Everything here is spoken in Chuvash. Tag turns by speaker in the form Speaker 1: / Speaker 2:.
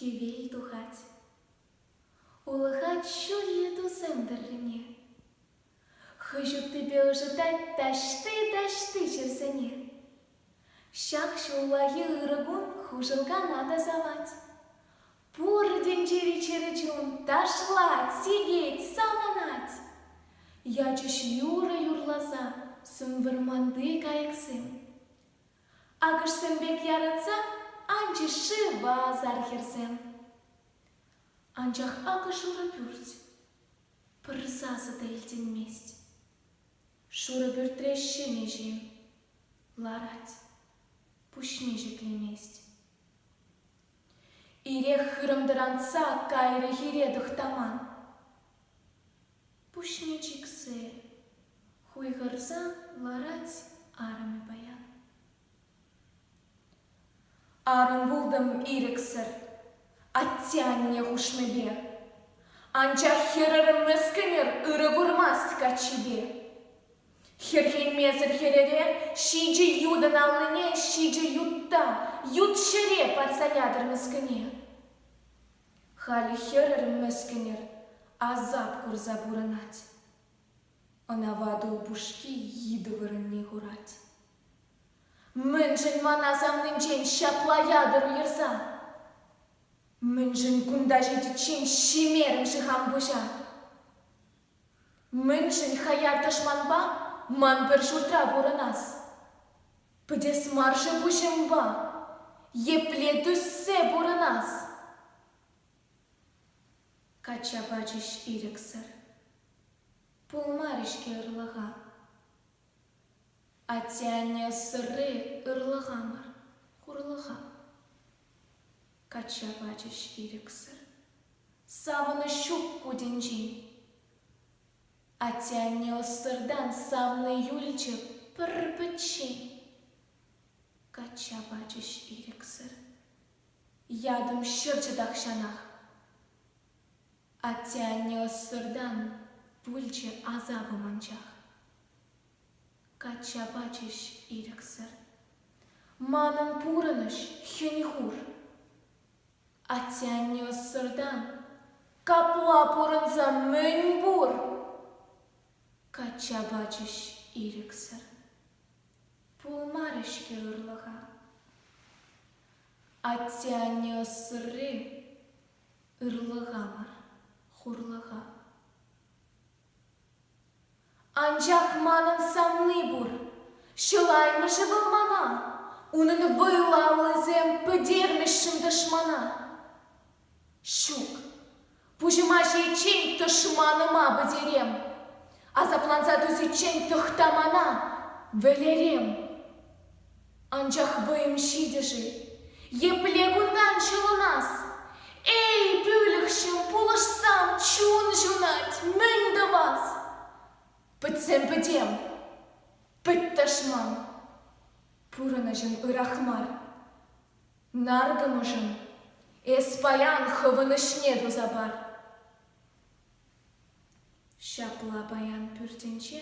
Speaker 1: Хӗвел тухать. Улӑхать ҫурхи тусем тӑррине. Хӑй ҫуттипе ӑшӑтать таҫти-таҫти чирсене. Ҫак ҫуллахи ырӑ кун хушӑнкана тасалать. Пур тӗнчери чӗрӗ чун ташлать, сикет, саланать. Ячӗҫ юрӑ юрласа сӗм вӑрманти кайӑксем. Акӑшсем пек яратса анчӗҫ шыва асар хӗрсем. Анчах акӑ шурӑ пӳрт пӗр сасӑ та илтӗнмест. Шурӑ пӳртре ҫемҫе ларать, пуҫне ҫӗклемест. Ирех хырӑмтӑрантса кайрӗ хире тӑхтаман. Пуҫне чиксе хуйхӑрса ларать арӑмӗ паян. Арӑм пултӑм ирӗксӗр атте-анне хушмипе. Анчах хӗрарӑм мӗскӗнӗр ырӑ курмасть каччипе. Хӗрхенмесӗр хӗрӗре ҫичӗ ютӑн аллине ҫичӗ ютта, ют ҫӗре парса ятӑр мӗскӗне. Халӗ хӗрӗр мӗскӗнӗр асап курса пурӑнать. Ӑна ватӑ упӑшки йытӑ вырӑнне хурать. Мӗншӗн ман асамнинчен ҫапла ятӑр уйӑрса? Мӗншӗн кунта ҫитиччен ҫимерӗм-ши хам пуҫа? Мӗншӗн хаяр тӑшманпа ман пӗр ҫуртра пурӑнас? Пӗтес мар-ши пуҫӑмпа епле тӳссе пурӑнас? Качча пачӗҫ ирӗксӗр. Пулмарӗ-ҫке ырлӑха. Атте-анне сырри ырлӑха мар, хурлӑха. Качча пачӗҫ ирӗксӗр. Савӑнӑҫ ҫук ку тӗнчи. Атте-анне ӑссӑртан савнӑ юлчӗ пӗр-пӗччен. Качча пачӗҫ ирӗксӗр. Ятӑм ҫӑрчӗ тахҫанах. Атте-анне ӑссӑртан пулчӗ асапӑм анчах. Качча пачӗҫ ирӗксӗр. Манӑн пурӑнӑҫ хӗн-хур. Атте-анне ӑссӑртан капла пурӑнса мӗн пур? Качча пачӗҫ ирӗксӗр. Пулмарӗ-ҫке ырлӑха. Атте-анне ӑссӑрри ырлӑха мар, хурлӑха. Анчах манӑн савни пур. Чылаймӑшӗ вӑл мана, унӑн вӑйлаллисем пӗтермӗҫҫӗн тӑшмана. Ҫук, пуҫӑма ҫииччен тӑшманыма пӗтерем. Асапланса тӳсиччен тӑхта мана, вӗлерем. Анчах вӑйӑм ҫитӗ-ши? Епле кунтан ҫӑлӑнас? Эй, пӳлӗхҫӗм, пулӑшсам, чун ҫунать, мӗн тӑвас? Пӗтсем пӗтем. Пӗт тӑшман. Пурӑнӑҫӑн ырах мар. Наркӑмӑшӑн эс паян хӑвӑнӑҫне туса пар. Ҫапла паян пӳртӗнче